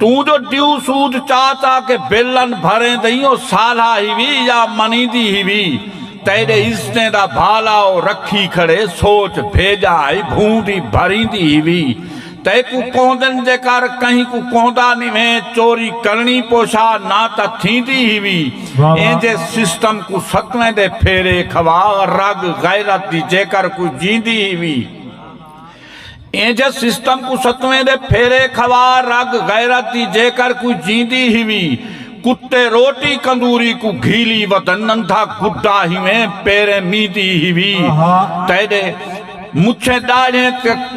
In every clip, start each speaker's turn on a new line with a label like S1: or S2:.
S1: توں جو ڈیو سود چا چا کے بلن بھریندئیں او سالھا ہیوی یا منیندی ہیوی تیڈے عزتیں دا بھالا او رکھی کھڑے سوچ بھیجا ہئی بھوں دی بھریندی ہیوی تیکوں کوندن جے کر کہیں کوں کوندا نیویں چوری کرنی پوشا نہ تا تھیندی ہیوی اینجھے سسٹم کوں ستویندے پھیرے کھوا رگ غیرت دی جے کر کوئی جیندی ہیوی اینجھ سسٹم کوں ستویں دے پھیرے کھوا رگ غیرت دی جیکر کوئی جیندی ہیوی کتے روٹی کندوری کوں گھیلی ودن نندھا گڈا ہیویں پیریں میندی ہیوی تیڈے مچھیں داڑھیں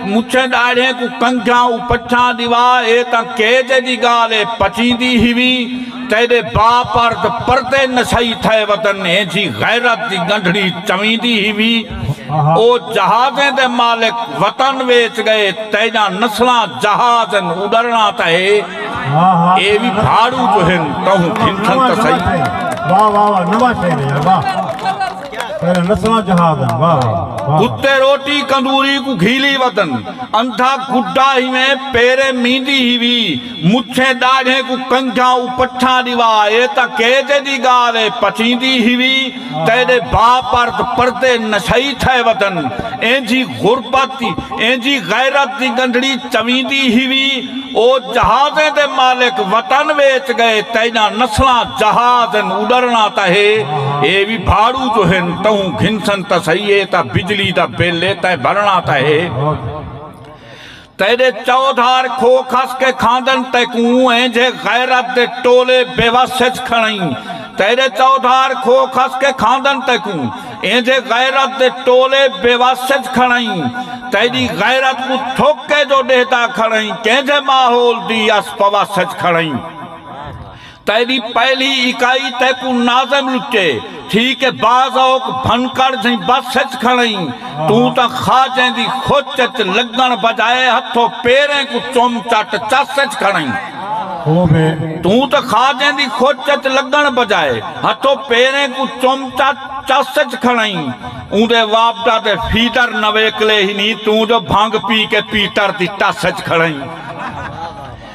S1: مچھیں داڑھیں کوں کنجھاں او پچھاں دیوا اے تاں کے جے دی گال اے پچیندی ہیوی تیڈے با پرد پردے نسائی تھے ودن اینجھی غیرت دی گنڈھڑی چویندی ہیوی او جہازیں دے مالک وطن ویچ گئے تیجاں نسلاں جہاز ہن اڈرناں تاں ہے اے وی بھاڑو جو ہن تہوں گھنٹھن تاں سہی واہ واہ واہ
S2: نواں شہر ہے واہ پہلے نسلاں جہاز ہن واہ واہ کتے روٹی
S1: کندوری کو گھیلی وطن اندھا گڈا ہی میں پیرے میندی ہی وی مچھیں ڈاڑھیں کو کنجھاں او پٹھاں دیوا اے تاں کیجے دی گال ہے پچیندی ہی وی تیڈے باپ ارد پردے نشئی تھئے ودن اینجھی غربت دی اینجھی غیرت دی گندھڑی چویندی ہیوی او جہازیں دے مالک وطن ویچ گئے تیڈاں نسلاں جہاز ان اڈرنا تاں ہے اے وی بھاڑو جو ہن تہوں گھنسن تاں سہی اے تاں بجلی دا بل اے تیں بھرنا تاں ہے۔ تیݙے چودھار کھو کھس کے کھاندن تیکوں اینجھے غیرت دے ٹولے بے وس اچ کھڑئیں تیݙے چودھار کھو کھس کے کھاندن تیکوں اینجھے غیرت دے ٹولے بے وس اچ کھڑئیں تیݙی غیرت کوں تھک کے جو ݙیہدا کھڑئیں کینجھے ماحول دی اس پوس اچ کھڑئیں تیݙی پہلی اکائی تیکوں ناظم لٹے تھی کہ بعض اوک بھنکڑ جھیں بس اچ کھڑئیں توں تاں خواجیں دی خچ اچ لڳݨ بجائے ہتھو پیریں کوں چم چٹ چس اچ کھڑئیں۔ توں تاں خواجیں دی خچ اچ لڳݨ بجائے ہتھو پیریں کوں چم چٹ چس اچ کھڑئیں اوندے وابڈا دے فیدر نویکلے ہی نی توں جو بھنگ پی کے پیٹر دی ٹس اچ کھڑئیں۔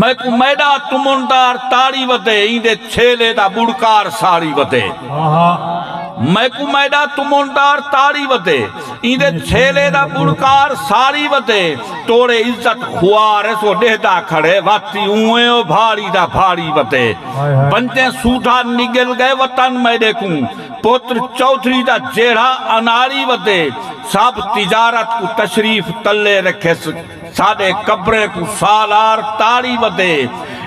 S1: میکوں میݙا تمندار تاڑی ودے ایندے چھیلے دا ٻڑکار ساڑی ودے میکوں میݙا تمندار تاڑی ودے ایندے چھیلے دا ٻڑکار ساڑی ودے توڑے عزت خوار ہے سو ݙیہدا کھڑے واتی اوں او بھاڑی دا بھاڑی ودے بنجے سودھا نڳل ڳئے وطن میݙے کوں پتر چوہدری دا جیڑھا اناڑی ودے سب تجارت کوں تشریف تلے رکھیس ساݙے قبریں کوں سالار تاڑی وتے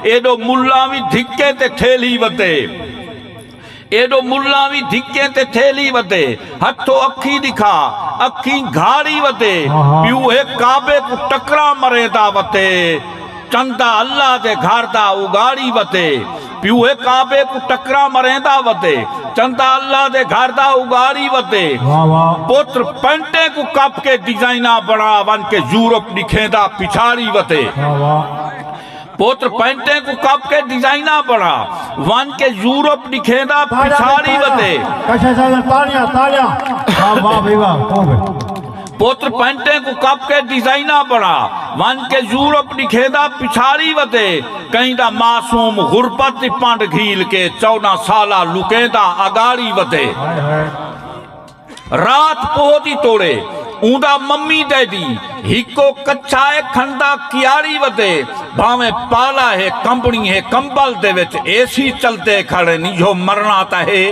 S1: ایݙو ملاں وی دھکیں تے تھیلی وتے ایݙو ملاں وی دھکیں تے تھیلی وتے ہتھو اکھیں ݙکھا اکھیں گھاڑی وتے پیو ہے کعبے کوں ٹکراں مریں دا وتے چندہ اللہ دے گھر دا اگاڑی وتے پیو ہے کعبے کوں ٹکراں مریندا وتے چندا اللہ دے گھر دا اگاڑی وتے پتر پینٹیں کوں کپ کے ڈیزائناں بنا ون کے یورپ ڈکھیندا پچھاڑی وتے پتر پینٹیں کوں کپ کے ڈیزائناں بنا ون کے یورپ ڈکھیندا پچھاڑی وتے کشے سازن تالیاں تالیاں واہ واہ بھائی واہ پتر پینٹیں کوں کپ کے ڈیزائناں بنا ونج کے یورپ ڈکھیندا پچھاڑی ودے کہیں دا معصوم غربت دی پنڈ گھیل کے چوداں سالہ لکیندا اگاڑی ودے رات پوہ دی توڑے اوندا ممی ڈیڈی ہکو کچھا اے کھندا کیاڑی ودے بھانویں پالا ہے کمبنی ہے کمبل دے وچ اے سی چلدے کھڑن یہو مرنا تاں ہے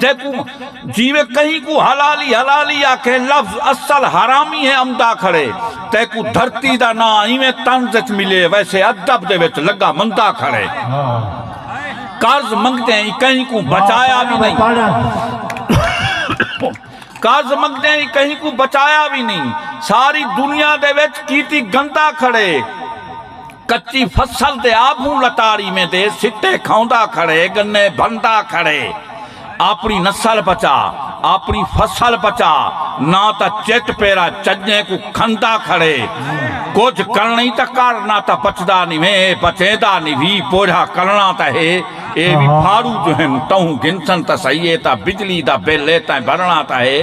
S1: جیکوں جیویں کہیں کوں حلالی حلالی آکھے لفظ اصل حرامی ہے امدا کھڑے تیکوں دھرتی دا نا ایویں طنز وچ ملے ویسے ادب دے وچ لگا مندا کھڑے قرض منگتے ہیں کہیں کوں بچایا بھی نہیں قرض منگتے ہیں کہیں کوں بچایا بھی نہیں ساری دنیا دے وچ کیتی گندا کھڑے کچی فصل تے آپوں لتاڑی میں تے سٹے کھاوندا کھڑے گنے بھندا کھڑے آپنی نسل بچا آپنی فصل بچا نہ تا چٹ پیرا چجیں کو کھندا کھڑے کچھ کرنی تا کر نہ تا بچدا نی ویں اے بچیندا نی وی پوجھا کرنا تا ہے اے وی پھاڑو جو ہن تہوں گھنسن تا سہی اے تا بجلی دا بل اے تائیں بھرنا تا ہے۔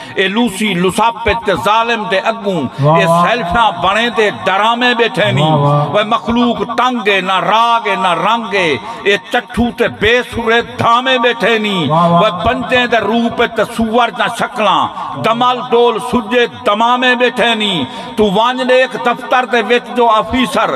S1: اے لوسی لساپت تے ظالم دے اگوں اے سیلفیاں بݨیندے ڈرامے ٻیٹھے نی وے مخلوق تنگ اے نہ راگ اے نہ رنگ اے اے چٹھو تے بے سرے دھامے ٻیٹھے نی وے بندیں دے روپ اچ تے سوور دیاں شکلاں دمل دول سجھے دمامے ٻیٹھے نی توں ونڄ ݙیکھ دفتر دے وچ جو آفیسر